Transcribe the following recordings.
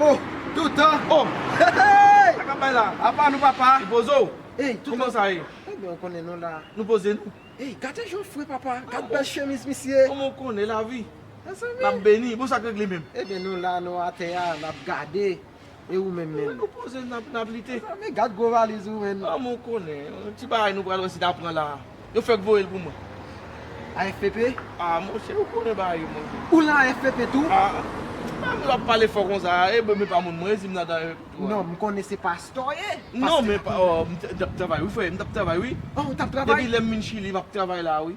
Oh toutan oh hey sa kap bay la apa nou papa nou poze w hey toutan kòman sa ye ebyen ou konnen nou la nou poze nou hey gade jan l fre papa gad bèl chemiz misye kòman ou konnen lavi mezanmi lap beni bon sak regle menm ebyen nou la nou atè a nap gade. E ou menm menm? Ou wè nou poze n ap nap lite. Men gad gwo valiz ou menn. An mwen konnen. Yon ti bagay nou pral wè si ta pran la a. Yo fèk voye l pou mwen. AFPP? A monchè ou konnen bagay yo monchè. Ou lan AFPP tou? A. Sa moun yo ap pale fò konsa a. E mwen menm pa moun mwen e si m ladan AFPP tou a? Non m konnen se pastè w ye. Non men pa. M t ap travay wi frè. M t ap travay wi. O ou t ap travay? Depi lè m vin chili m ap travay la a wi.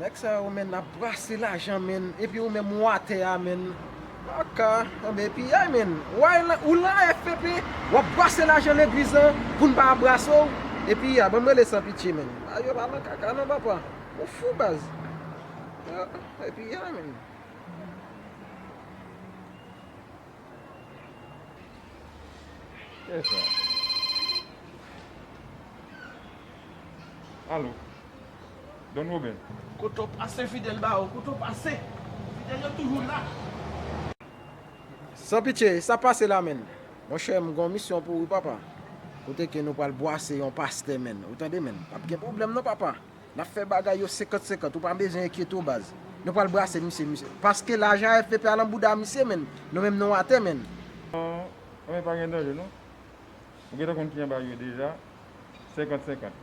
Nèg sa yo menn ap brase lajan menn epi ou menm ou atè a menn ok anben piyay menn ou lan AFPP wap brase lajan legliz lan pou n pa brase w epi ya banm rele san pitye menn bagay yo pa lan kaka non papa ou fou baz ok piyay menn. Kiyès sa? Allo. Don Robin. Koto pase fidel ba ou koto pase fidel yo toujou la. San pitye sa pase la menn. Monchè m gon misyon pou ou papa kote ke nou pral bwase yon pastè menn ou tande menn pap gen pwoblèm non papa nap fè bagay yo 50 50 ou pa bezwen enkyete w baz nou pral brase misye misye paske lajan avp a lan bouda misye menn nou menm nou atè menn. Nan men pa gen danje non. Ou gentan konn ki anba yo deja 50 50.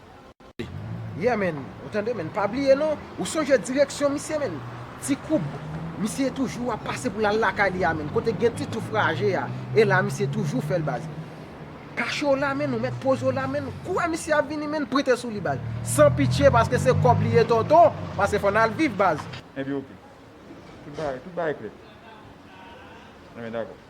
Yeah man, ou tande man, pa bliye non, ou sonje direksyon misye man, ti koub, misye toujou ap pase pou l al lakay li a man, kote gen ti touf raje a, e la misye toujou fè l baz. Kache w la man, ou mèt poze w la man, kou wè misye ap vini man, prete sou li baz. San pitye paske se kòb li ye tonton, paske fò n al viv baz. Ebyen ok, tout bagay klè. Ebyen dakò.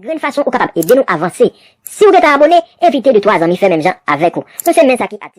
Grenn fason ou kapab ede nou avanse. Siw gentan abone, envite 2 3 zanmi fè menm jan avèk ou. Nou se men sa ki ati.